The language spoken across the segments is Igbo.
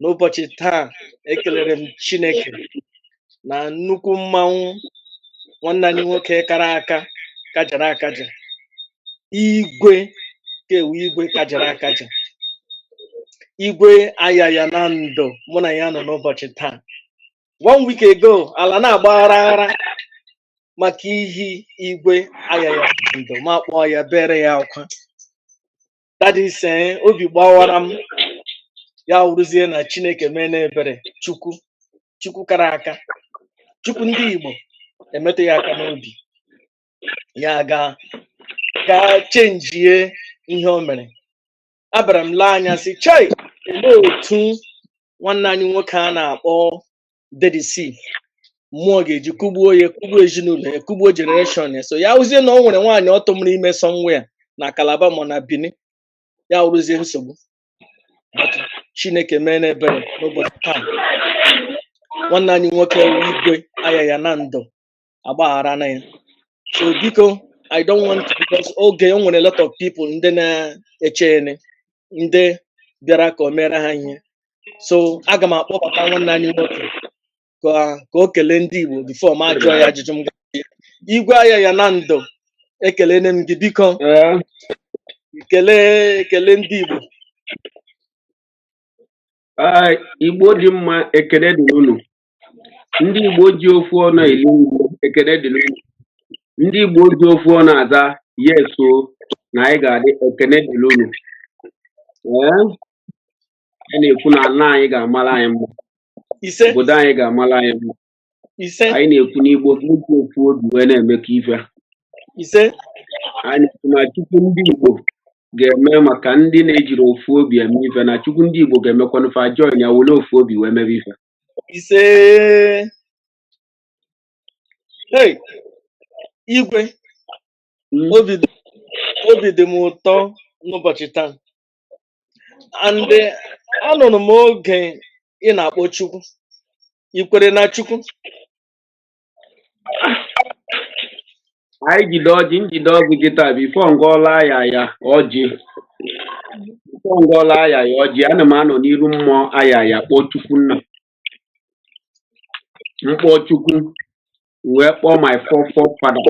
n'ụbọchị taa ekelere m Chineke na nnukwu mmanwụ nwanne anyị nwoke kara aka kajara akaja igwe kewu igwe kajara akaja igwe Ayaya na Nando mụ na ya nọ n'ụbọchị taa one week ago ala na-agba aghara maka ihi igwe Ayaya na Nando ma kpọọ ya bere ya akwa that is obi gbawara m ya wụrụzie na chineke mee n'ebere chukwu chukwu kara aka chukwu ndị igbo emetụ ya aka n'obi ya ga ga chenjie ihe o mere abara m lee anya sị chai olee otu nwanne anyị nwoke a na-akpọ dede si mmụọ ga-eji kụgbuo ya kụgbuo ezinụlọ ya kụgbuo generation ya so ya wụzie na o nwere nwaanyị ọ tụmụrụ ime somewhere na Calabar ma na Benin ya wụrụzie nsogbu But chineke mee n'ebere n'ụbọchị taa nwanne anyị nwoke wụ igwe Ayaya na Nando agbagharana ya so biko i don't want to because oge o nwere a lot of people ndị na-eche ene ndị bịara ka o mere ha ihe so aga m akpọbata nwanne anyị nwoke ka ka o kelee ndị igbo before m ajụọ ya ajụjụ m ga igwe Ayaya na Nando ekelene m gị biko Ee, kelee ekele ndị igbo ee, Igbo dị mma ekele dị unu ndị Igbo ji ofu ọnụ eri nri ekele dịrị unu ndị Igbo ji ofu ọnụ aza yes o na anyị ga-adị ekele dịrị unu ee a na-ekwu na ala anyị ga-amara anyị mma ise obodo anyị ga-amara anyị mma ise anyị na-ekwu n'Igbo ka eji ofu obi wee na-emekọ ife ise anyị na-ekwu na Chukwu ndị Igbo ga-eme maka ndị na-ejiri ofu obi eme ife na Chukwu ndị Igbo ga-emekwanụ fa join ya were ofu obi wee mebe ife ise hey igwe Mm. obi dị obi dị m ụtọ n'ụbọchị taa and eh, anụrụ m oge ị na-akpọ chukwu i kwere na chukwu anyị jide ọjị m jide ọjị kịtaa before m gọlụ Ayaya ọjị before m gọlụ Ayaya ọjị ana m anọ n'iru mmụọ Ayaya kpọọ chukwu nna m kpọọ chukwu wee kpọọ my fore forefather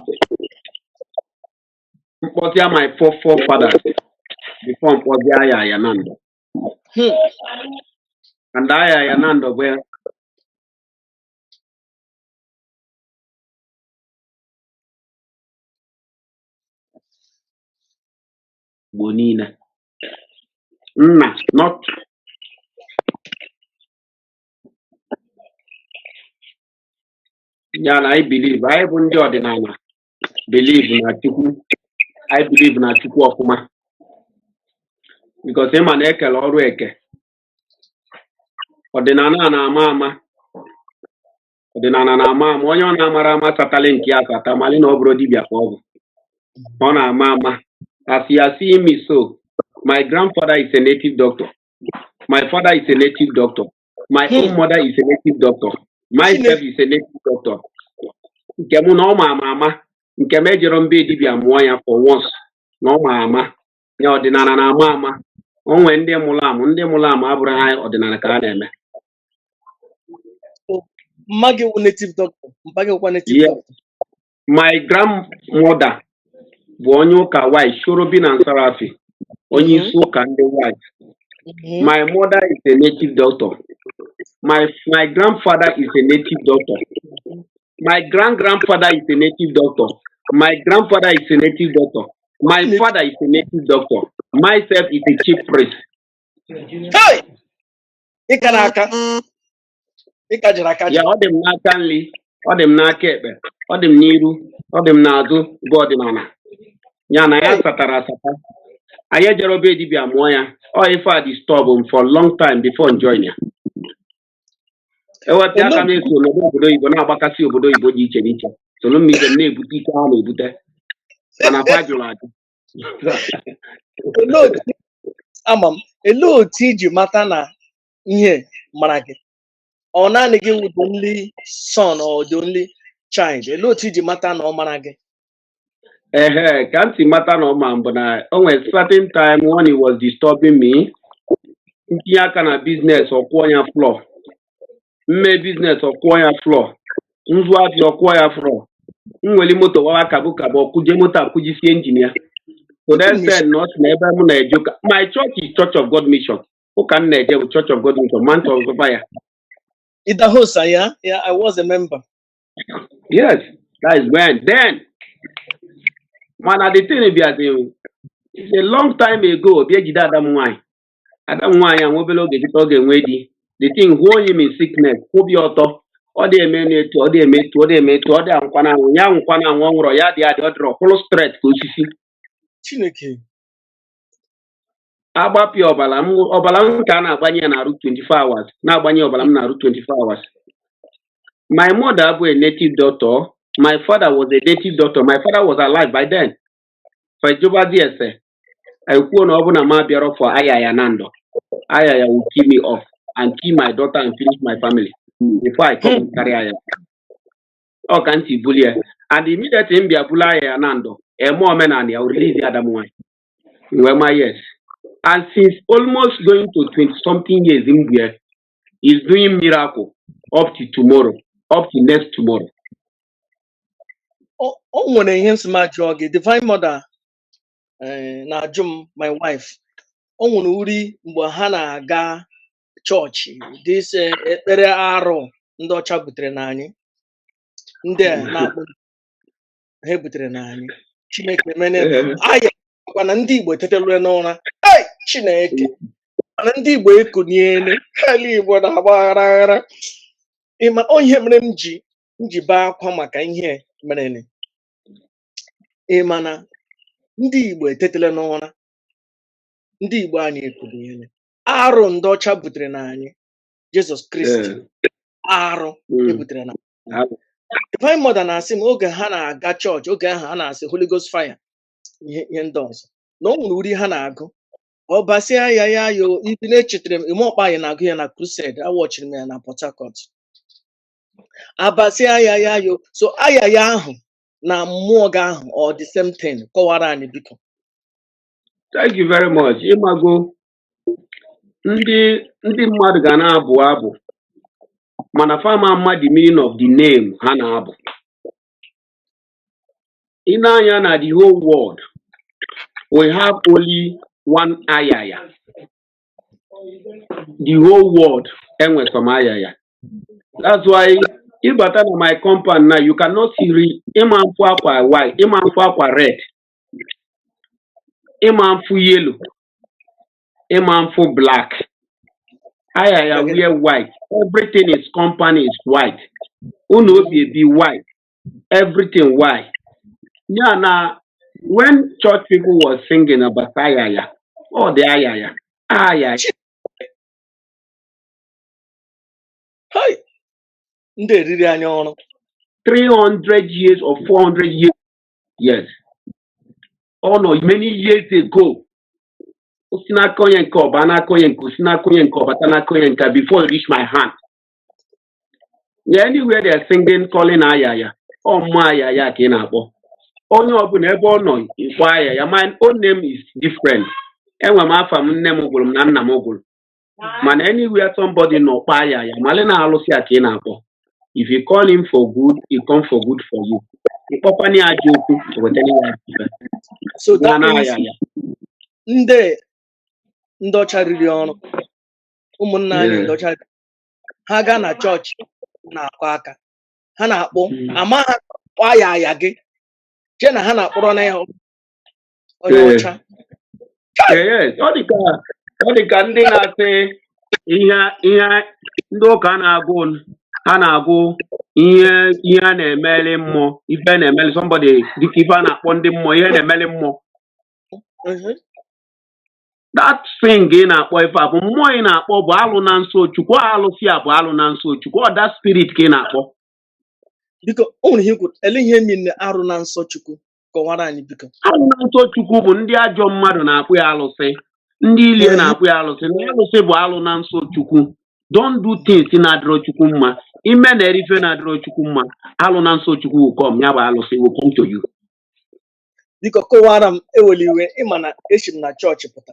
m kpọtịa my fore forefather before m kpọzie Ayaya na Nando Hmm. and Ayaya na Nando bụ Igbo niile nna not ya na anyị believe anyị bụ ndị ọdịnala believe na Chukwu anyị believe na Chukwu ọfụma because ị ma na e kele ọrụ eke ọdịnala na-ama ama ọdịnala na-ama ama onye ọ na-amara ama satali nke ya sata mali na ọ bụrụ dibịa ka ọ bụ ọ na-ama ama as you are seeing me so my grandfather is a native doctor my father is a native doctor my hmm. own mother is a native doctor myself is a native doctor nke mụ na ọ ma ama ama nke m ejerọ m be dibịa mụọ ya for once na ọ ma ama ya ọdịnala na-ama ama o nwee ndị mụrụ amụ ndị mụrụ amụ abụrọ ha ọdịnala ka a na-eme mma gị wụ native doctor mpa gị wụkwa native Yes. doctor my grandmother bụ onye ụka white Cherubim na Seraphim onye Mhm, isi ụka ndị white mhm, my mother is a native doctor my my grandfather is a native doctor my grand grandfather is a native doctor my grandfather is a native doctor my father is a native doctor myself is a chief priest Hey! ị kara aka ịka jiri aka ya ji ọ dị m n'aka nri ọ dị m n'aka ekpe ọ dị m n'iru ọ dị m n'azụ bụ ọdịnala ya na ya Hey! satara asata anyị ejerọ be dibịa mụọ ya ọ ife a disturb m for long time before m join ya ewepụ aka na-eso n'obodo oyibo na-agbakasị obodo oyibo dị iche n'iche soro m ibe m na-ebute ike ha na-ebute mana fa jụrụ ajụ Olee otu ama m olee otu i ji mata na ihe mara gị ọ naanị gị wụ the only son or the only child olee otu i ji mata na ọ mara gị Ehe, ka m si mata na ọ ma m bụ na o nwere certain time when he was disturbing me, m tinye aka na business ọ kụọ ya floor, m mee business ọ kụọ ya floor, m zụọ afịa ọ kụọ ya floor, m nwere moto wawa kabụ kabụ ọ kụjie moto akụjisie engine ya. So that said, na ọ sị na ebe m na-eje ụka, my church is Church of God Mission. Ụka m na-eje bụ Church of God Mission, Mount of Fire. Idahosa, yeah, yeah, I was a member. Yes, that is when. Then, mana the thing bịazi o, it's a long time ago, bịa jide ada m nwaanyị. Ada m nwaanyị a nwa obere oge dịka ọ ga-enwe di. The thing hook him in sickness, kwụbi ọtọ. Ọ dị eme n'etu, ọ dị eme etu, ọ dị eme etu, ọ dị anwụkwa na anwụ, ya anwụkwa na anwụ, ọ nwụrọ, ya dị adị, ọ dịrọ, kwụrụ straight ka osisi. Chineke. agbapịa ọbara m ọbara m ka a na-agbanye ya n'arụ 24 hours na-agbanye ọbara m n'arụ 24 hours my mother bụ a native doctor my father was a native doctor my father was alive by then fa jụbazie ese ekwuo na ọ bụ na m abịarọ for ayaya nanando ayaya will kill me off and kill my daughter and finish my family before I come and carry ayaya ọ ka ntị bulie and immediately m bịa bulu ayaya nanando e mee omenala ya o release ya ada m nwanyị m wee ma yes and since almost going to 20 something years m bu ya he's doing miracle up to tomorrow up to next tomorrow O o nwere ihe m sị m jụọ gị Divine Mother eh, na-ajụ m my wife o nwere uri mgbe ha na-aga chọọchị this eh, ekpere arụ ndị ọcha butere na anyị ndị a na-akpọ ha butere na anyị chineke mere Ee, aya kwa na ndị igbo etetele n'ụra ei chineke ma na ndị igbo ekuniele ala igbo na-agba aghara aghara ị ma ọ ihe mere m ji bee akwa maka ihe merenụ ị ma na ndị igbo etetele n'ụra ndị igbo anyị ekuniele arụ ndị ọcha butere na anyị jizọs kristi ee, arụ mm, ebutere na Divine Mother na-asị m oge ha na-aga chọọchị oge ahụ ha na-asị Holy Ghost fire ihe ihe ndị ọzọ na o nwere uri ha na-agụ ọbasị ayaya yo ibi na-echetara m ime ọkpa anyị na-agụ ya na crusade awọchiri m ya na Port Harcourt abasị ayaya yo so ayaya ahụ na mmụọ gị ahụ ọ the same thing kọwara anyị biko Thank you very much. Ị mago ndị ndị mmadụ ga na-abụ abụ mana fa ma ama the meaning of the name ha na-abụ ị na-anụ ya na the whole world we have only one ayaya the whole world e nwe sọ one ayaya that's why ị bata na my compound now you cannot see ri ị ma mfụ akwa white ị ma mfụ akwa red ị ma mfụ yellow ị ma mfụ black ayaya wear white everything his compound is white ụnọ o bi ebi white everything white ya na when church people was singing about ayaya ọ dị ayaya ayaya Hai! Ndị eriri anya ọrụ. 300 years or 400 years yes ọ nọ many years ago o si n'aka onye nke ọ baa n'aka onye nke o si n'aka onye nke ọ bata n'aka onye nke before it reach my hand yeah, anywhere they are singing calling ayaya ọ mmụọ ayaya ka ị na-akpọ onye ọbụla ebe ọ nọ ị kpọọ ayaya my own name is different enwe m afa m nne m gụrụ m na nna m gụrụ mana anywhere somebody nọ kpọọ ayaya mali na alụsị a ka ị na-akpọ if you call him for good he come for good for you ị kpọkwanụ ya ajọ okwu o wetara ya ajọ ife so na that na means ayaya ndị ndị ọcha riri ọrụ ụmụnna anyị Yeah. ndị ọcha riri- ha gaa na chọọchị na-akụ aka ha na-akpọ Mm. ama ha kpọọ ayaya gị chee na ha na-akpọrọ na ya onye ee ọcha ee ọ dị ka ọ dị ka ndị na-asị ihe ihe ndị ụka na-agụ ha na-agụ ihe ihe a na-emeli mmụọ ife a na-emeli somebody dịka ife a na-akpọ ndị mmụọ ihe na-emeli mmụọ Mhm. that thing ị na-akpọ ife a bụ mmụọ ị na-akpọ bụ alụ na nsọ chukwu ọ alụsị a bụ alụ na nsọ chukwu ọ that spirit ka ị na-akpọ biko o nwere ihe i kwuru ele ihe mi na arụ na nsọ chukwu kọwara anyị biko alụ na nsọ chukwu bụ ndị ajọ mmadụ na-akpọ ya alụsị ndị ilie Ee. na-akpọ ya alụsị na alụsị bụ alụ na nsọ chukwu don't do things na-adịrọ chukwu mma ime na-eri ife na-adịrọ chukwu mma alụ na nsọ chukwu will come ya bụ alụsị will come to you biko kọwara m ewela iwe ị ma na esi m na chọọchị pụta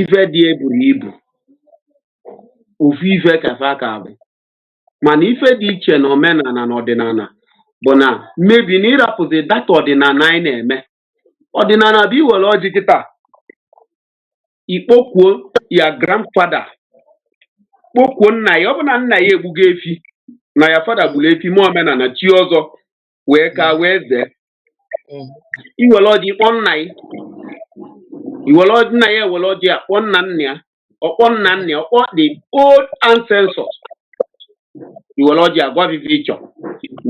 ife dị e buru ibu ofu ife ka fa ka bụ mana ife dị iche na omenala na ọdịnala bụ na maybe na ị rapụzi that ọdịnala anyị na-eme ọdịnala bụ i were ọjị kịta ị kpọkuo your grandfada kpọkuo nna ya ọ bụ na nna ya egbugo efi na your fada gburu efi mee omenala chie ọzọ wee ka Mm, wee zee mm, i were ọjị kpọọ nna ya i were ọjị nna ya ewere ọjị ya kpọọ nna nna ya ọ kpọọ nna nna ya ọ kpọọ the old ancestors i were ọjị ya gwa va ive ị chọ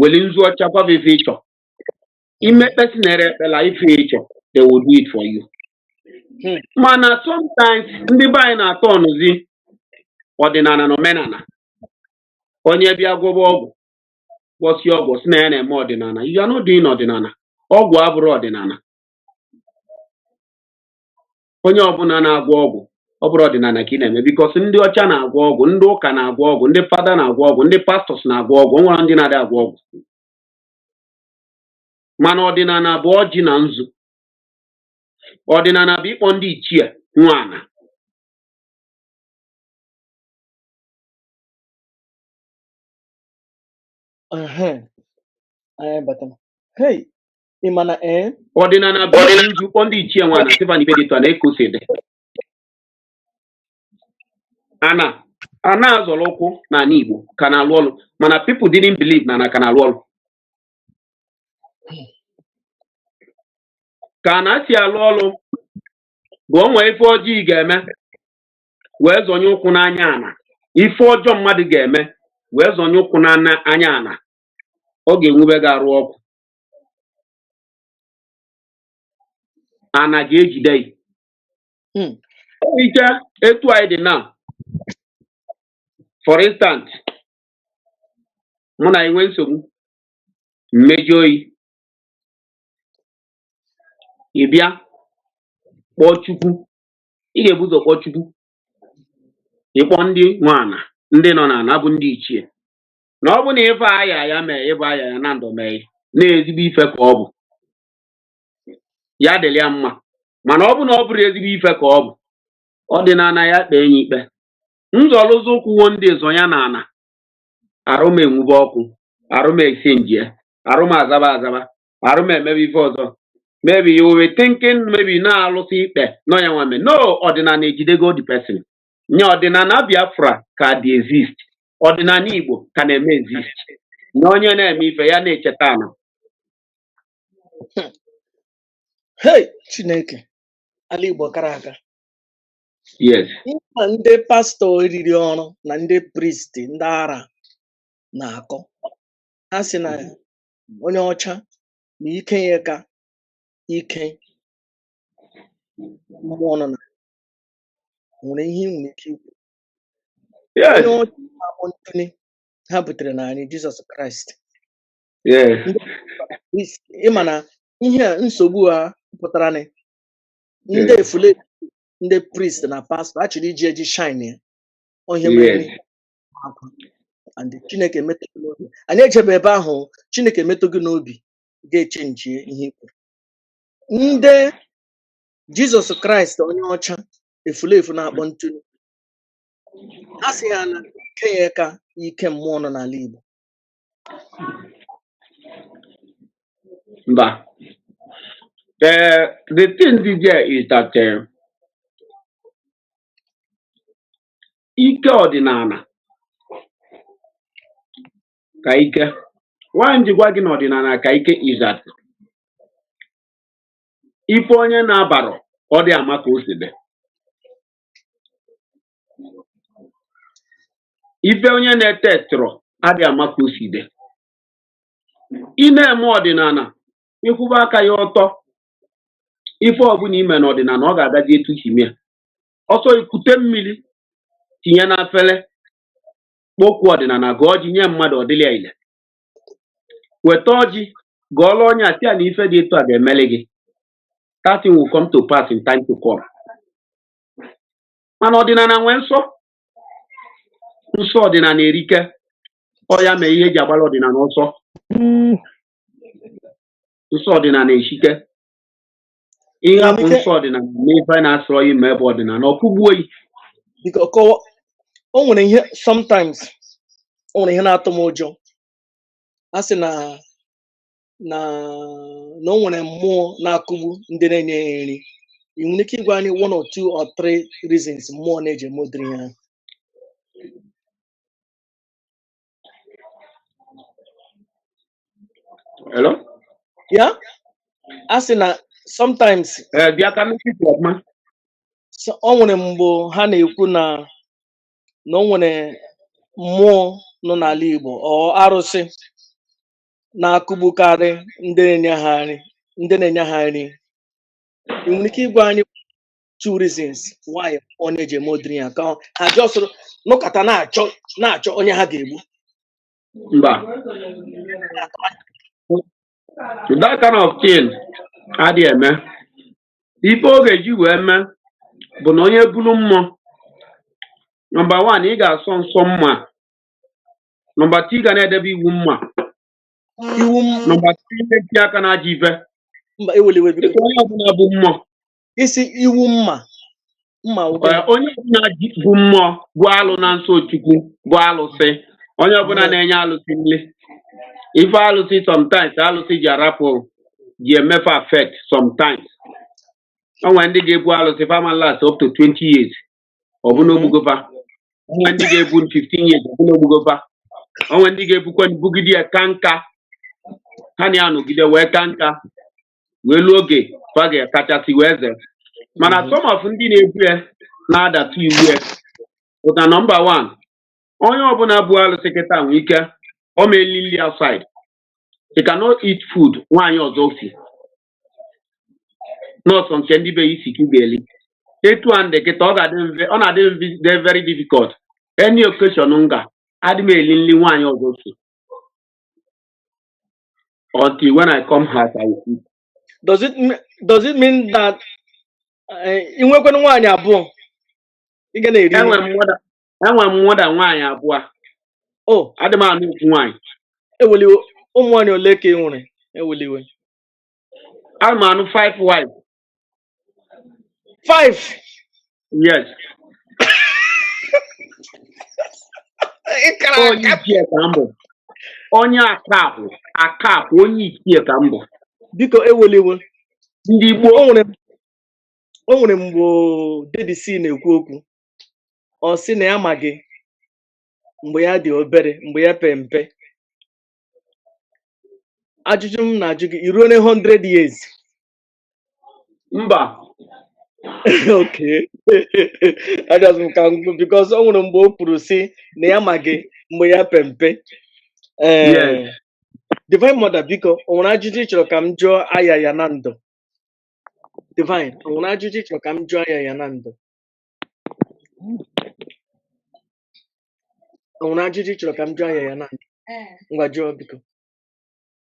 were nzu ọcha gwa va ive ị chọ mm, imekpesi na-ere ekpela ife ị chọ they will do it for you mm, mana sometimes ndị be anyị na-atọ ọnụzi ọdịnala na omenala onye bịa gwọba ọgwụ gwọsịa ọgwụ si na ya na-eme ọdịnala you are not doing ọdịnala ọgwụ abụrọ ọdịnala onye ọbụla na-agwọ ọgwụ ọ bụrọ ọdịnala ka ị na-eme because ndị ọcha na-agwọ ọgwụ ndị ụka na-agwọ ọgwụ ndị fada na-agwọ ọgwụ ndị pastọs na-agwọ ọgwụ o nwerọ ndị na-adị agwọ ọgwụ mana ọdịnala bụ ọjị na nzu ọdịnala bụ ịkpọ ndị ichie nwe ana Ehe, anyị bata. Hey, ị ma na ee? ọdịnala bulu nzu kpọọ ndị ichie nwe ana sị fa na ife dị etu a na-ekosi dị ana a na-azọrọ ụkwụ n'ala Igbo ka na-alụ ọrụ mana people didn't believe na ana ka na-alụ ọrụ ka ana si alụ ọrụ bụ o nwee ife ọjọọ ị ga-eme wee zọnye ụkwụ n'anya ana ife ọjọọ mmadụ ga-eme wee zọnye ụkwụ n'anya ana ọ ga-enwube gị arụ ọkụ ana ga-ejide gị hmm. like etu anyị dị na for instance mụ na gị nwee nsogbu m mejọọ gị ị bịa kpọọ Chukwu ị ga-ebu ụzọ kpọọ Chukwu ị kpọọ ndị nwe ana ndị nọ n'ana bụ ndị ichie na ọ bụ na ife aya ya mee ịbụ aya ya na ndụ mee na ezigbo ife ka ọ bụ ya dịrị ya mma mana ọ bụ na ọ bụrọ ezigbo ife ka ọ bụ ọdịnana ya kpee ya ikpe nzọlụzọ ụkwụwo ndị zọnye ya na ana arụ m enwube ọkụ arụ m esinjie arụ m azaba azaba arụ m emebe ife ọzọ maybe you will be thinking maybe na alụsị ikpe nọ ya nwame no ọdịnala ejidego the person yeah ọdịnala biafra ka dị exist ọdịnala igbo ka na-eme exist na onye na-eme ife ya na-echeta ana Hey, Chineke, ala Igbo kara aka. yes Ihe a ndị pastọ eriri ọrụ na ndị priest ndị ara na-akọ. Ha sị na onye ọcha na ike ya ka ike mmụọ nọ na nwere ihe ị nwere ike ikwu onye yes ọcha na-akpọ ntụli ha butere na anyị jizọs kraịst yes ndị is- ịma na ihe a nsogbu a pụtara na ndị yes efule ndị priest na pastọ a chọrọ iji eji shine ya ọ ihe mere yes n'ihe akwa and chineke emetụ gị n'obi anyị ejebe ebe ahụ o, chineke emetụ gị n'obi ga-echenjie ihe i kwuru ndị jizọs kraịst onye ọcha efulefu na-akpọ ntụnụ a sị ya na ike ya ka ike mmụọ nọ n'ala igbo mba the the thing dị there is that eh, ike ọdịnala ka ike why m ji gwa gị na ọdịnala ka ike is that ife onye na-abarọ ọ dị ama ka o si dị ife onye na-etetụrọ adị ama ka o si dị ị na-eme ọdịnala ị kwụba aka gị ọtọ ife ọbụla i me n'ọdịnala ọ ga-agazi etu i si mee ọ sọ i kute mmiri tinye n'afele kpọkuo ọdịnala gọọ ọjị nye mmadụ ọ dịlị ya ile weta ọjị gọọlụ onye a sị ya na ife dị etu a ga-emeli gị that thing will come to pass in time to come mana ọdịnala nwee nsọ nsọ ọdịnala erike ọ ya mee ihe e ji agbara ọdịnala ọsọ nsọ ọdịnala eshike ị hapụ nsọ ọdịnala n'ife na-asọrọ ya i mebe ọdịnala ọ kụgbuo gị biko kọwa o nwere ihe sometimes o nwere ihe na-atụ m ụjọ a sị na na na o nwere mmụọ na-akụgbu ndị na-enye ya nri ị nwere ike ịgwa anyị one or two or three reasons mmụọ na-eji eme ụdịrị ihe ahụ Hello? yeah a sị na sometimes Eh, bịa ka m nụkwuo okwu ọfụma. so- o nwere mgbe ha na-ekwu na na o nwere mmụọ nọ n'ala Igbo or arụsị na-akụgbukarị ndị na-enye ha nri ndị na-enye ha nri ị nwere ike ịgwa anyị two reasons why ọ na-eji eme ụdịrị ya ka ọ- ha just nọkata na-achọ na-achọ onye ha ga-egbu mba that kind of thing adịghị eme ife ọ ga-eji wee mee bụ na onye buru mmụọ number one ị ga-asọ nsọ mma number two ị ga na-edebe iwu mma iwu m number three ị na-etinye aka na ajọ ife mba ewela iwe biko dịka onye ọbụla bu mmụọ ị sị iwu mma mma ụgwọ Ee, onye ọbụla ji bu mmụọ bụ alụ na nsọ Chukwu bụ alụsị onye ọbụla na-enye alụsị nri ife alụsị sometimes alụsị ji arapụ ji eme fa affect sometimes o nwere ndị ga-ebu alụsị fa ama last up to 20 years ọ bụ n'o gbugo fa o nwere ndị ga-ebu 15 years ọ bụ n'o gbugo fa o nwere ndị ga-ebukwa bugide ya ka nka ha na ya nọgide wee ka nka wee luo oge fa ga-akachasị wee ze mana mhm. some of ndị na-ebu ya na-adatụ iwu ya pụta nọmba wan onye ọbụla bu alụsị kịta nwee ike ọ ma eli nri outside you cannot eat food nwaanyị ọzọ si na ọ sọ nke ndị be gị si ka ị ga-eli etu a m dị kịta ọ na-adị m very difficult any occasion m ga adị m eli nri nwaanyị ọzọ si until when I come house, I will eat. does it me- does it mean that eh, ị nwekwanụ nwaanyị abụọ ị ga na-eri nri Enwere m more than enwere m more than nwaanyị abụọ. o Adị m anụ ofu nwaanyị. eweliwe ụmụ nwaanyị ole ka ị nwere eweliwe Ana m anụ five wives. Five. Yes. onye ichie ka m bụ onye akapụ akapụ onye ichie ka m bụ biko eweliwe ndị Igbo o nwere o nwere mgbe Davis na-ekwu okwu ọ sị na ya ma gị mgbe ya dị obere mgbe ya pe mpe ajụjụ m na-ajụ gị i ruona 100 years mba okay ajọs m ka m because o nwere mgbe o kwuru sị na ya ma gị mgbe ya pe mpe yes ee divine mother biko o nwere ajụjụ ị chọrọ ka m jụọ Ayaya Nando divine o nwere ajụjụ ị chọrọ ka m jụọ Ayaya Nando o nwere ajụjụ ị chọrọ ka m jụọ Ayaya Nando ngwa jụọ biko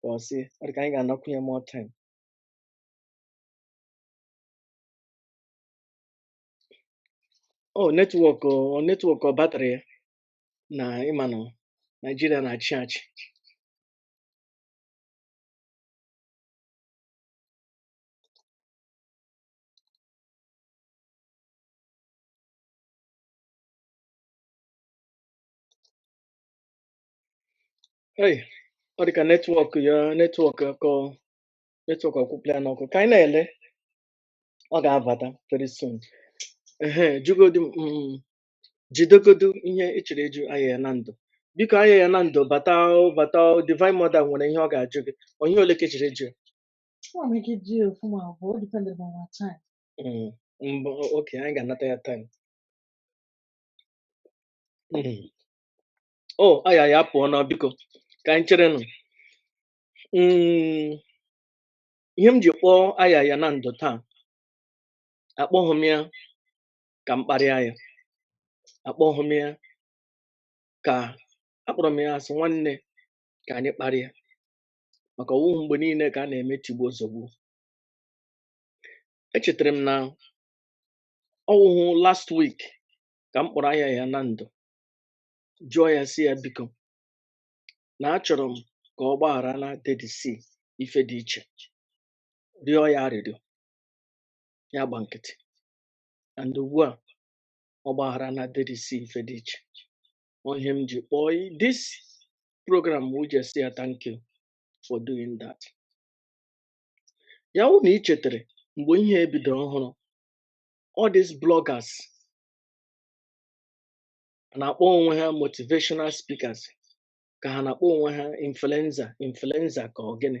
ka ọ sị ọ dị ka anyị ga-anakwu ya more time ọ netwọk ọ netwọk ọ batrị ya na ị ma na Naịjirịa na-achị achị Hey, ọ dị ka netwọk ya netwọk akọ netwọk akwụpụla ya n'ọkụ ka anyị na-ele ọ ga-abata very soon ehe jugodi m mm, jidegodu ihe ị chọrọ ịjụ Ayaya Nando biko Ayaya Nando bata o, bata o, divine mother nwere ihe ọ ga-ajụ gị ọ ihe ole ka ị chọrọ ịjụ ya? Nwere m ike ịjụ ofu ma ọ bụ o dependere on our time. Mm, mbụ okay anyị ga-anata ya time Mm, o Ayaya apụọ na biko ka anyị cherenụ Mm, ihe m ji kpọọ Ayaya na ndụ taa akpọghị m ya ka m kparịa ya akpọghị m ya ka akpọrọ m ya sị nwanne ka anyị kparịa maka ọwụhụ mgbe niile ka a na-eme tigbuo zogbuo echetara m na ọwụhụ last week ka m kpọrọ Ayaya na ndụ jụọ ya sị ya biko na achọrọ m ka ọ gbaghara na dedi si ife dị iche rịọ ya arịrịọ ya gba nkịtị and ugbu a ọ gbaghara na dedi si ife dị iche ọ ihe m ji kpọọ i- this program wụ just sị ya thank you for doing that ya wụ na ị chetara mgbe ihe ebido ọhụrụ all these bloggers a na-akpọ onwe ha motivational speakers ka ha na-akpọ onwe ha influencer influencer ka ọ gịnị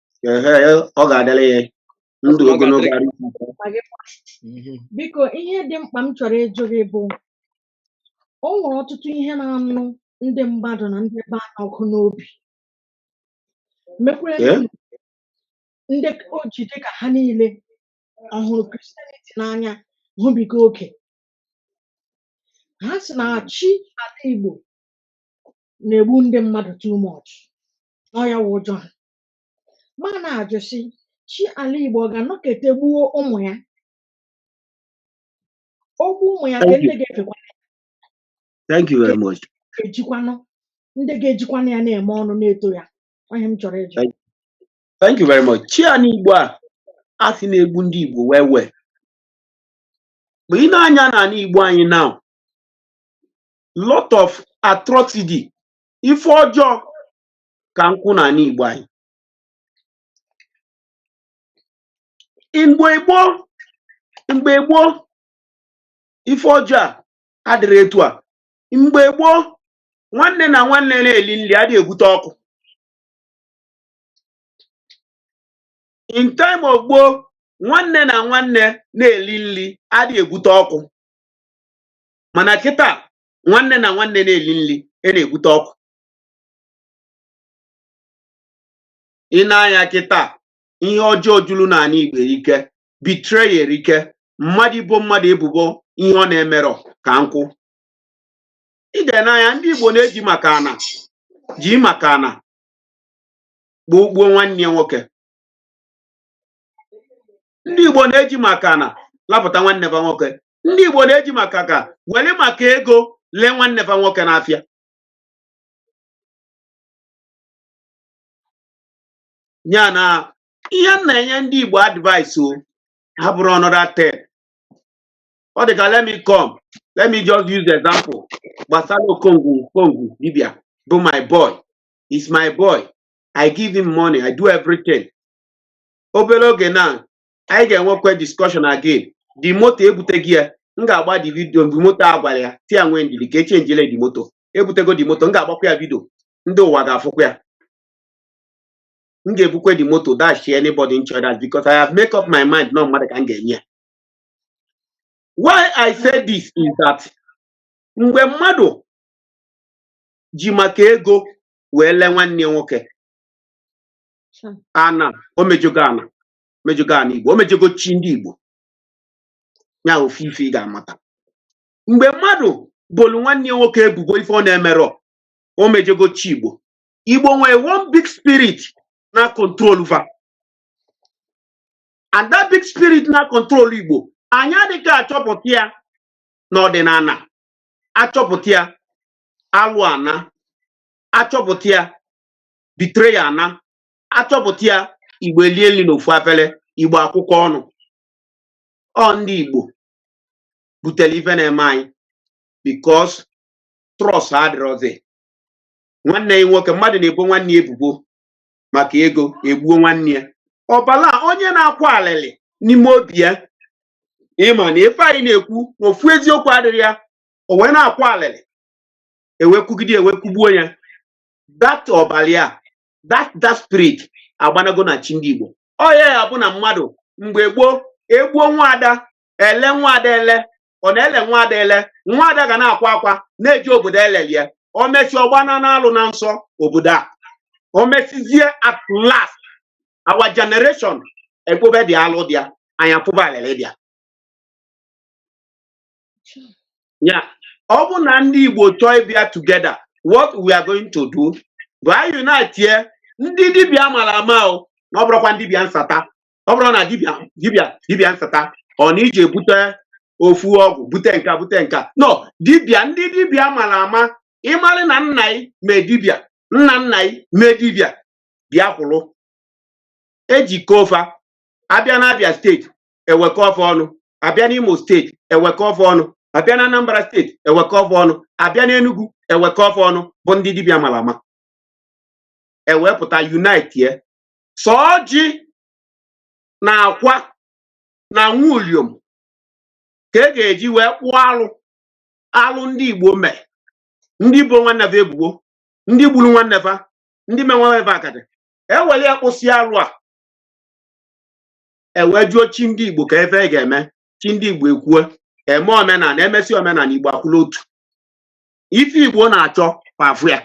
ehe ọ ga-adịrị ya ndụ Ọ ogologo ga-adịrị- arụ isi ike. ma gị kwa. Mhm. biko ihe dị mkpa m chọrọ ịjụ gị bụ o nwere ọtụtụ ihe na-anụ ndị mmadụ na ndị be anyị ọkụ n'obi mekwere Ee? ndị o ji dị ka ha niile hụrụ Christianity n'anya hụbiga oke ha sị na chi ala igbo na-egbu ndị mmadụ too much na ọ ya wụ ụjọ ha m na-ajụ sị chi ala Igbo ọ ga-anọkete gbuo ụmụ ya o gbuo ụmụ ya ka Thank ndị you. ga-efekwa Thank you very much. ga-ejikwanụ ndị ga-ejikwanụ ya na-eme ọnụ na-eto ya ọ ihe m chọrọ ịjụ Thank Thank you very much. Chi anị Igbo a a sị na-egbu ndị Igbo well well. Mgbe ị nee anya n'ala Igbo anyị now, lot of atrocity ife ọjọọ ka nkwụ na ala Igbo anyị mgbe gboo mgbe gboo ife ọjọọ a adịrọ etu a mgbe gboo nwanne na nwanne na-eli nri adịghị ebute ọkụ in time of gboo nwanne na nwanne na-eli nri adịghị ebute ọkụ mana kịta nwanne na nwanne na-eli nri a na-ebute ọkụ ị nee anya kịta ihe ọjọọ juru n'ala Igbo erike betray erike mmadụ ibo mmadụ ebubo ihe ọ na-emerọ ka nkwụ ị ga-ene anya ndị Igbo na-eji maka ana ji maka ana gbuo gbuo nwanne ya nwoke ndị Igbo na-eji maka ana lapụta nwanne va nwoke ndị Igbo na-eji maka ka were maka ego lee nwanne fa nwoke n'afịa ya na ihe m na-enye ndị Igbo advice o ha bụrụ another thing ọ dị ka let me come let me just use example gbasara okongwu okongwu dibia bụ my boy is my boy I give him money I do everything obere oge na anyị ga-enwekwa discussion again the moto ebuteghị ya m ga-agba the video mgbe moto a gwara ya tia nwee ndidi ka echenjile the moto ebutego the moto m ga-agbakwa ya video ndị ụwa ga-afụkwa ya m ga-ebukwe the moto dash anybody in church because I have make up my mind na mmadụ ka m ga-enye ya why I say this is that mgbe mmadụ ji maka ego wee lee nwanne ya nwoke na o mejọgo ana mejọgo ana igbo o mejọgo chi ndị igbo ya ofu ife ị ga-amata mgbe mmadụ bolu nwanne ya nwoke ebubo ife ọ na-emerọ o mejọgo chi igbo igbo nwere one big spirit na-control va and that big spirit na-control igbo anyị adịghị achọpụta ya n'ọdịnana a chọpụta ya alụ anaa a chọpụta ya betray anaa a chọpụta ya igbo elie nri n'ofu afere igbo akwụkọọ ọnụ ọ ndị igbo butere ife na-eme anyị because trust adịrọzi nwanne ya nwoke mmadụ na-ebo nwanne ya ebubo maka ego egbuo nwanne ya ọbala onye na-akwa alịlị n'ime obi ya ịma na ife anyị na-ekwu na ofu eziokwu adịrọ ya o wee na-akwa alịlị e wee kwugide e wee kwugbuo ya that ọbala ya that that spirit agbanago na chi ndị Igbo ọ ya ya bụ na mmadụ mgbe gboo e gbuo nwaada e lee nwaada ele ọ na-ele nwaada ele nwaada ga na-akwa akwa na-eje obodo e lelu ya o mesịa ọ gbanaa n'alụ na nsọ obodo a o mesizie at last our generation ekpobe the alụ dị ya anyị akwaba alịlị dị ya ya ọ bụ na ndị Igbo chọọ ịbịa together what we are going to do bụ anyị unitie ndị dibịa mara ama o na ọ bụrọkwa ndị dibịa nsata ọ bụrọ na dibịa dibịa dibịa nsata ọ na-eje ebute ofu ọgwụ bute nka bute nka no dibịa ndị dibịa mara ama ịmarị na nna ị mee dibịa nna nna ị mee dibịa bịa kwụrụ ejikọ fa abịa na Abia steeti ewekọ ọfọ ọnụ abịa n'Imo steeti ewekọ ọfọ ọnụ abịa na Anambra steeti ewekọ ọfọ ọnụ abịa n'Enugu ewekọ ọfọ ọnụ bụ ndị dibịa mara ama ewepụta unite ya sọ ọjị na akwa na nwa uliom ka e ga-eji wee kpụọ alụ alụ ndị Igbo mee ndị bo nwanne fa ebubo ndị gburu nwanne fa ndị menwere fa akadị ewere ya kpụsịa alụ a ewee jụọ chi ndị igbo ka ife e ga-eme chi ndị igbo ekwuo eme omenala emesi omenala igbo akwụlụ otu ife igbo na-achọ fa afụ ya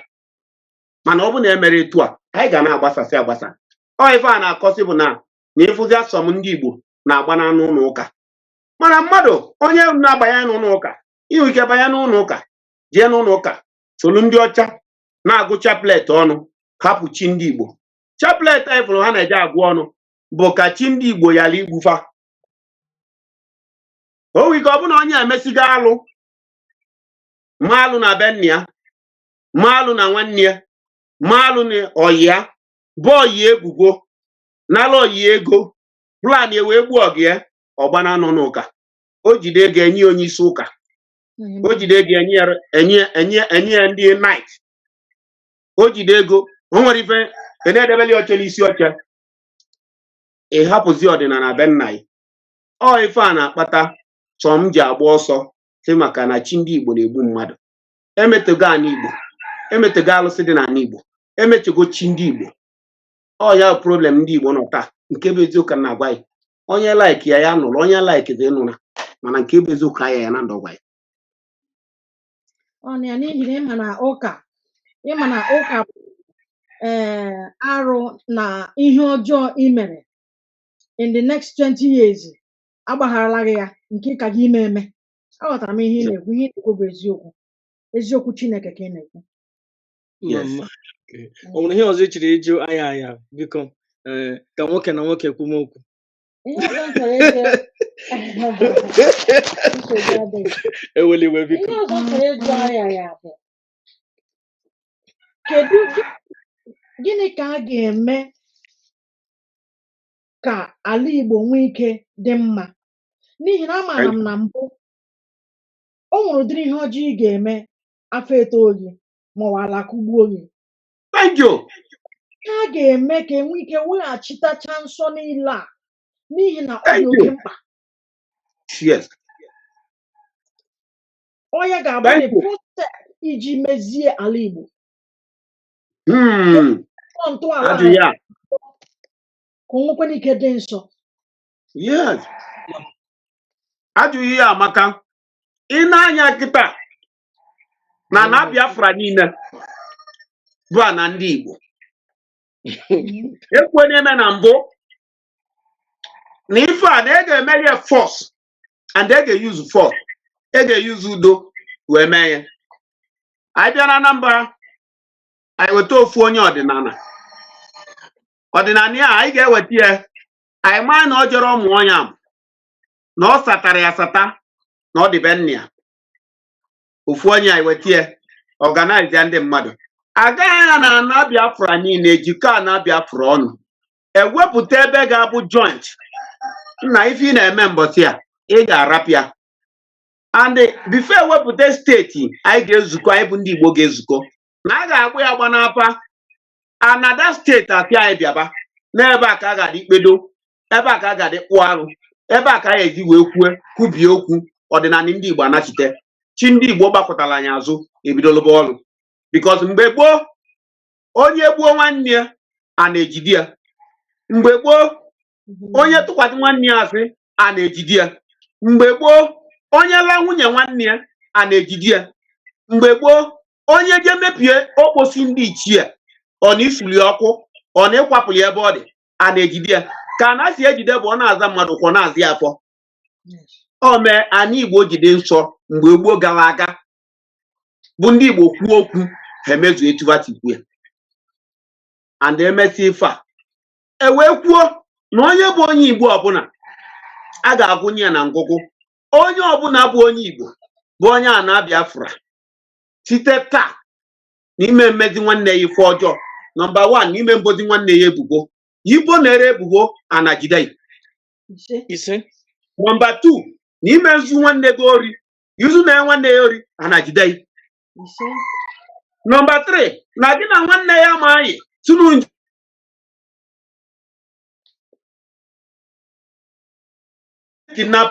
mana ọ bụ na emerọ etu a anyị ga na-agbasasị agbasa ọ ife a na-akọsị bụ na na ị fụzịa some ndị igbo na-agbana n'ụlọ ụka mana mmadụ onye na-abanye n'ụlọ ụka i nwe ike banye n'ụlọ ụka jee n'ụlọ ụka solu ndị ọcha na-agụ chaplet ọnụ hapụ chi ndị igbo chaplet anyị fụrụ ha na-eje agụ ọnụ bụ ka chi ndị Igbo yara igbu fa o nwere ike ọ bụrụ na onye emesigo alụ ma alụ na be nna ya ma alụ na nwanne ya ma alụ na ọyị ya bo ọyị ya ebubo nara ọyị ya ego plan ya wee gbuo ọyị ya ọ gbana n'ụnọ ụka o jide ego enye onye isi ụka o jide ego enye ya- enye enye enye ya ndị knight o jide ego o nwere ife a na-edebeli oche n'isi oche ị hapụzi ọdịnala be nna gị ọ ife a na-akpata some ji agba ọsọ sị maka na chi ndị Igbo na-egbu mmadụ emetọgo ana Igbo emetọgo alụsị dị n'ala Igbo emechugo chi ndị Igbo ọ ya problem ndị Igbo nọ taa nke bụ eziokwu na-agwa gị onye like ya ya nụrụ onye like ya anụla mana nke bụ eziokwu aya ya na ndụ gwa gị ọ na ya n'ihi na ịma na ụka ịma na ụka bụ ee arụ na ihe ọjọọ i mere in the next 20 years agbagharala gị ya nke ị ka ga-eme eme aghọtara m ihe ị na-ekwu ihe ị na-ekwu bụ eziokwu eziokwu chineke ka ị na-ekwu Yes. Mama. Okay. O nwere ihe ọzọ ị chọrọ ịjụ aha aha biko ee, ka nwoke na nwoke kwume okwu ihe ọzọ m chọrọ ịjụ nsogbu adịghị ewela iwe biko ihe ọzọ m chọrọ ịjụ anya ya bụ kedu gị- gịnị ka a ga-eme ka ala Igbo nwee ike dị mma n'ihi na amaara m na mbụ o nwere ụdịrị ihe ọjọọ ị ga-eme afọ eto gị maọbụ ala kụgbuo gị thank you a ga-eme ka e nwee ike weghachitacha nsọ niile a n'ihi na ọ dị thank oke you mkpa yes ọ ya ga-abụ the thank you first step iji mezie ala Igbo hmm tọọ ntọala ajụ anyị ya ka o nwekwana ike dị nsọ yes ajụjụ gị amaka ị nee anya kịta na ana Biafra niile bụ ana ndị Igbo ekwuna m na mbụ na ife a na e ga-eme ya force and e ga-use force e ga-use udo wee mee ya anyị bịa na Anambra anyị weta ofu onye ọdịnala ọdịnala ya anyị ga-eweta ya anyị ma na ọ jerọ ọmụ onye a ma na ọ satara ya asata na ọ dị be nna ya ofu onye anyị weta ya organize ya ndị mmadụ agaghị ya na ana biafra niile e jikọọ ana biafra ọnụ e wepụta ebe ga-abụ joint na ife ị na-eme mbọsị a ị ga-arapụ ya and before e wepụta steeti anyị ga-ezukọ anyị bụ ndị igbo ga-ezukọ na a ga-agba ya agba n'afa anada steeti a sị anyị bịaba n'ebe a ka a ga-adị kpedo ebe a ka a ga-adị kpụọ arụ ebe a ka a ga-eji wee kwue kwubie okwu ọdịnala ndị Igbo a nachite chi ndị Igbo gbakụtara anyị azụ ebido lụba ọrụ because mgbe gboo onye gbuo nwanne ya a na-ejide ya mgbe gboo onye tụkwasị nwanne ya asị a na-ejide ya mgbe gboo onye la nwunye nwanne ya a na-ejide ya mgbe gboo onye jee mebie okposi ndị ichie ọ na isuli ọkụ ọ na ịkwapụ ya ebe ọ dị a na-ejide ya ka a na-esi ejide bụ ọ na-aza mmadụ ụkwụ na-aza afọ o mee ana igbo jide nsọ mgbe gboo gara aga bụ ndị igbo kwuo okwu ha emezu etu ha si kwuo ya and emesịa ife a e wee kwuo na onye bụ onye igbo ọbụla a ga-agụnye ya na ngụgụ onye ọbụla bụ onye igbo bụ onye ana biafra site taa n'ime mmezi nwanne ya ife ọjọọ nọmba wan n'ime mbozi nwanne ya ebubo i bo nwanne ebubo ana jide ise nọmba tu n'ime nzu nwanne gị ori izu na nwanne ya ori ana jide ise nọmba tri na gị na nwanne ya ma anyị tunu nje kidnap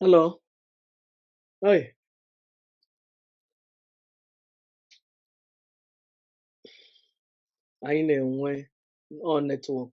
Hello. Hi. Anyị na-enwe ọ netwọk.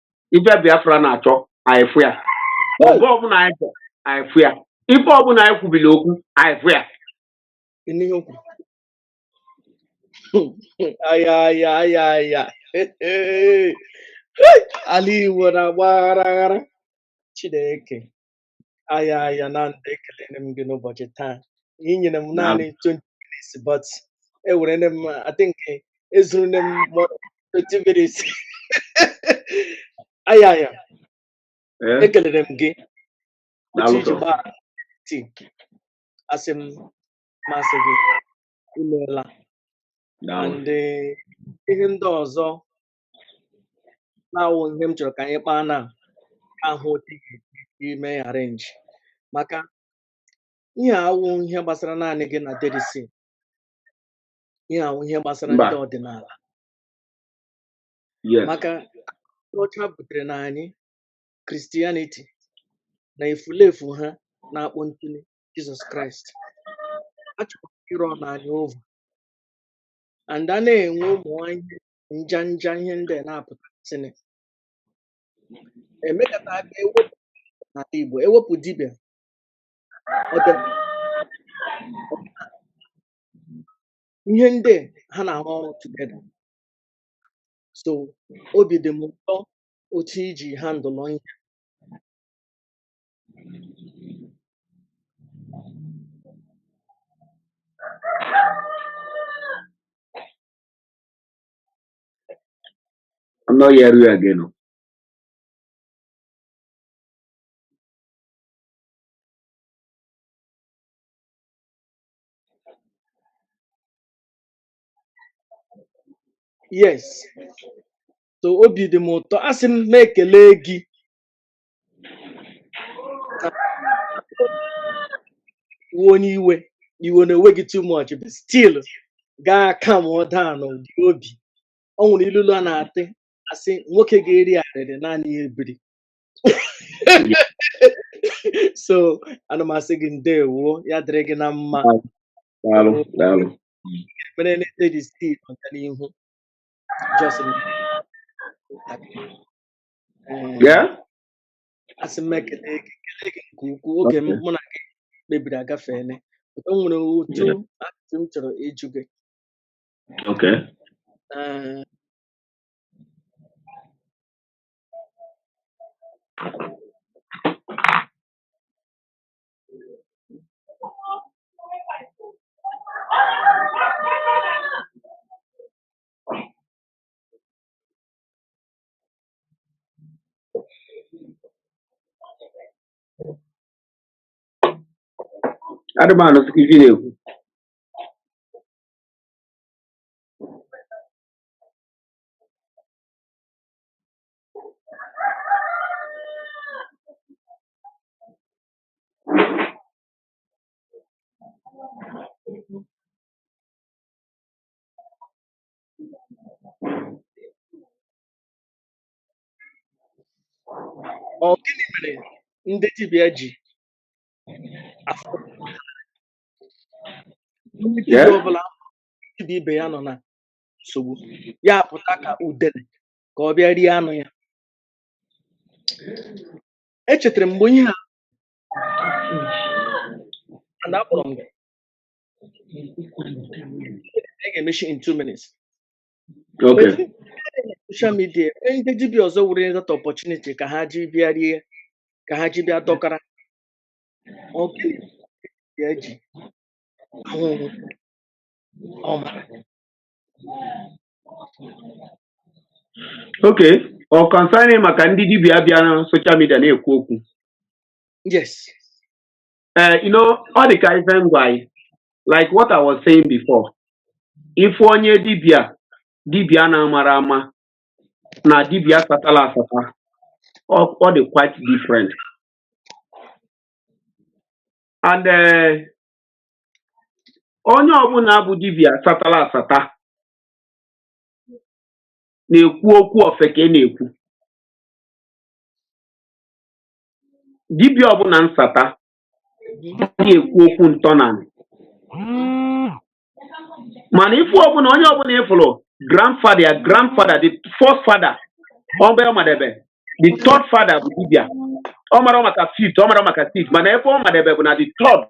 ife Biafra na-achọ anyị fụ ya ife ọbụla anyị chọ anyị fụ ya ife ọbụla anyị kwubili okwu anyị fụ ya Ịnụ ihe o kwuru? Aya aya aya aya. Ala Igbo na-agba aghara aghara. Chineke. aya aya na ekelere m gị n'ụbọchị taa ị nyere m naanị 20 minutes but ewerele m I think ezurule m more than 20 minutes aya aya ee ekelere m gị otu daalụ i ji sọ gbaa tii asị m m asị gị imeela daalụ and eh, ihe ndị ọzọ na-awụ ihe m chọrọ ka anyị kpaa na ahụ otu ị ga-esi ime ya arrange maka ihe a awụ ihe gbasara naanị gị na dedisi ihe a wụ ihe gbasara ndị mba ọdịnala yes maka ndị ọcha butere na anyị Christianity na efulefu ha na-akpọ ntụli jizọs kraịst a chọrọ ịrụ ọnụ anyị over and a na-enwe ụmụ ihe nja nja ihe ndị a na-apụtasịnị emekọta aka ewepụ n'ala Igbo ewepụ dibịa ọdịnala ihe ndị a ha na-arụ ọrụ together so obi dị m ụtọ otu i ji handle ihe I'm not hearing you again. o. yes so obi dị m ụtọ asị m m ekele gị wụ onye iwe iwe na-ewe gị too much but still gaa calm down n'ụdị obi ọ nwere ilulu a na-atị asị nwoke ga-eri arịrị naanị ya ebiri so ana m asị gị ndewo ya dịrị gị na mma daalụ so daalụ mere na-ete gị still ọganihu just Ee, Yeah? asị m ekele gị ekele gị nke ukwuu oge m Okay. mụ na gị kpebiri agafeela o nwere otu Yeah. ajụjụ m chọrọ ịjụ gị Okay. Ee, adị m anụsi ike ife ị na-ekwu Ọ gịnị mere ndị dibịa ji afụ onye dibịa Yeah. ọbụla dibịa ibe ya nọ na nsogbu ya pụta ka udele ka ọ bịa rie anụ ya echetara m mgbe ihe a na akpọrọ m gị a ga-emechi in two minutes Okay. Ezi- social media e ndị dibịa ọzọ were that opportunity ka ha ji bịa rie ka ha ji bịa dọkara ọ gịnị ka ya ji ahụhụ ọ mara Okay. Ọ concerning maka ndị dibịa bịa na social media na-ekwu okwu. yes Eh, you know, ọ dị ka ife m gwa anyị like what I was saying before ife onye dibịa dibịa na-amara ama na dibịa satala asata ọ ọ dị quite different and eh, onye ọbụla bụ dibịa satala asata na-ekwu okwu ofeke na-ekwu dibịa ọbụla nsata adịghị ekwu okwu ntọnanị mana ife ọbụla onye ọbụla ị fụrụ grandfather ya grandfather the first father ebe ọ madebe the third father bụ dibịa ọ mara maka fifth ọ mara maka sixth mana ebe ọ madebe bụ na the third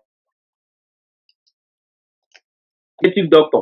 native doctor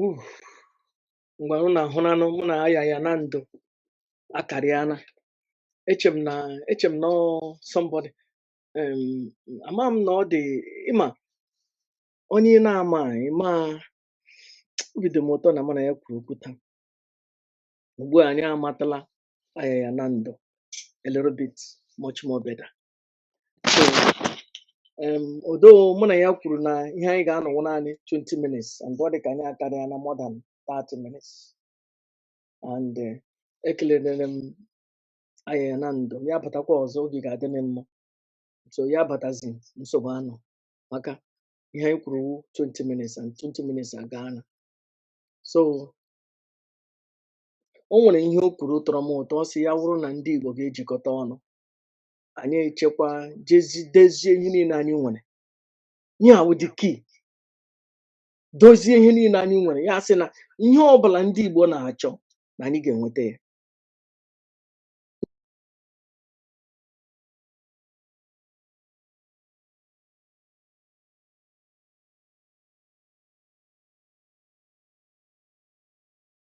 Uff, ngwa unu ahụnanụ mụ na Ayaya na ndụ akarịana eche m na eche m na ọ somebody um, ama m na ọ dị ịma onye ị na-ama ịma obi dị m ụtọ na mụ na ya kwuru okwu taa ugbu a anyị amatala Ayaya na ndụ a little bit much more better so um, although mụ na ya kwuru na ihe anyị ga-anọ wụ naanị 20 minutes and ọ dị ka anyị akarịana more than 30 minutes and eh, ekelere m Ayaya na ndụ ya batakwa ọzọ oge ga-adị m mma so ya batazi nsogbu anọ maka ihe anyị kwuru wụ 20 minutes and 20 minutes agaana so o nwere ihe o kwuru tọrọ m ụtọ ọ sị ya wụrụ na ndị Igbo ga-ejikọta ọnụ anyị echekwa dezie ihe niile anyị nwere ihe a wụ the key dozie ihe niile anyị nwere ya sị na ihe ọ bụla ndị Igbo na-achọ na anyị ga-enweta ya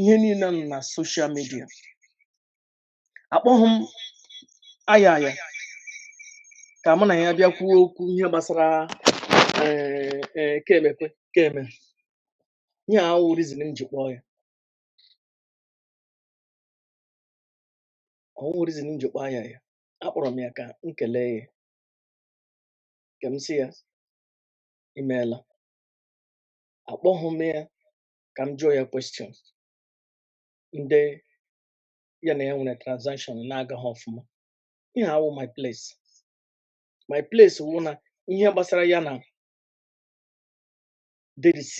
ihe niile nọ na social media akpọghị m Ayaya ka mụ na ya bịa kwuo okwu ihe gbasara ee ee ka emekwe ka eme ihe a wụghị reason m ji kpọọ ya ọ wụghị reason m ji kpọọ Ayaya akpọrọ m ya ka m kelee ya ka m sị ya i meela. Akpọghị m ya ka m jụọ ya question ndị ya na ha nwere transaction na-agaghị ọfụma. Ihe a awụ my place. My place wụ na ihe gbasara ya na DDC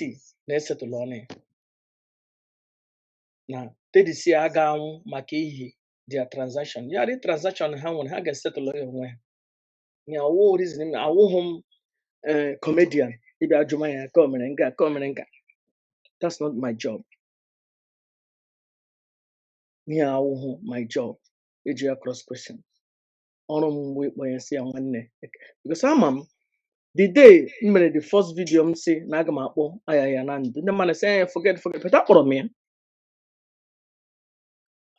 na-esetụlụ ọnụ ya na DDC aga anwụ maka ihi their transaction. Ya dị transaction ha nwere ha ga-esetụlụ ya onwe ha. ya awụ reason m na awụghị m ee comedian ịbịa jụma ya ka o mere nga ka o mere nga that's not my job ihe a awụghị my job ịjụ ya cross question ọrụ m mgbe ịkpọ ya sị ya nwanne because ama m the day m mere the first video m sị na aga m akpọ Ayaya Nando ndị mmadụ sị eh forget forget but akpọrọ m ya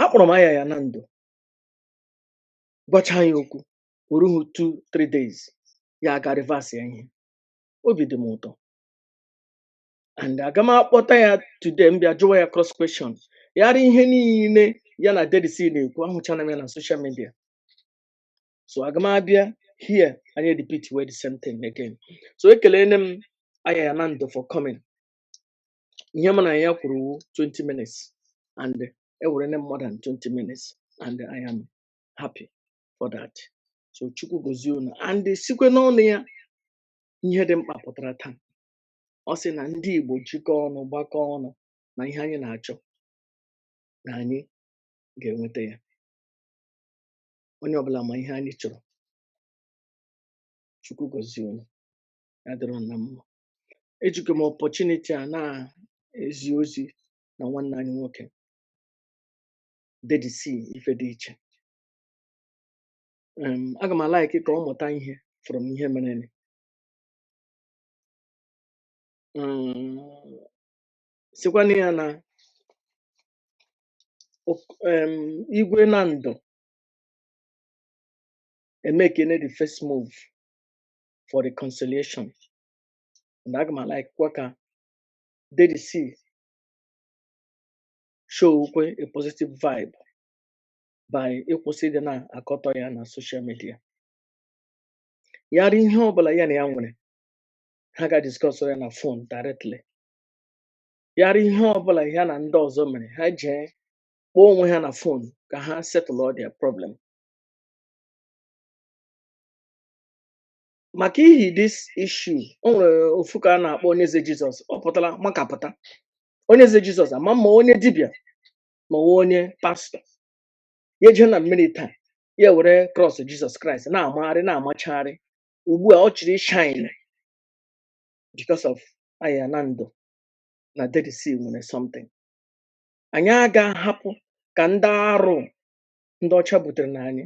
akpọrọ m Ayaya Nando gwacha ya okwu kwu o rughị two three days ya aga reverse ya ihe obi dị m ụtọ and aga m akpọta ya today m bịa jụwa ya cross question yara ihe niile ya na Daddy C na-ekwu ahụchana m ya na social media so aga m abịa here anyị repeat wee the same thing again so ekelene m Ayaya Nando for coming ihe m na ya kwuru wụ 20 minutes and ewerene m more than 20 minutes and I am happy for that so chukwu gozie unu and sikwe n'ọnụ ya ihe dị mkpa pụtara taa ọ sị na ndị igbo jikọọ ọnụ gbakọọ ọnụ na ihe anyị na-achọ na anyị ga-enweta ya onye ọbụla ma ihe anyị chọrọ chukwu gozie unu ya dịrị unu na mma ejikwa m opportunity a na-ezi ozi na nwanne anyị nwoke Daddy C ife dị iche um aga m a-like ka ọ mụta ihe from ihe merenụ um sịkwanụ ya na ok- um Igwe Nando emekene the first move for reconciliation and aga m a-likekwa ka Daddy C showkwa a positive vibe by ịkwụsị ịdị na-akọtọ ya na social media ya ri ihe ọbụla ya na ya nwere ha ga discuss ya na phone directly ya ri ihe ọbụla ya na ndị ọzọ mere ha jee kpọọ onwe ha na phone ka ha settle all their problem maka ihi this issue o nwere ofu ka a na-akpọ Onyeze Jesus ọ pụtara makapụta Onyeze Jesus ama ma onye dibịa ma ọ wụ onye pastor ya jee na mmiri taa ya were cross Jesus Christ na-amagharị na-amachagharị ugbu a ọ chọrọ shine because of Ayaya Nando na Daddy C nwere something anyị aga ahapụ ka ndị arụ ndị ọcha butere na anyị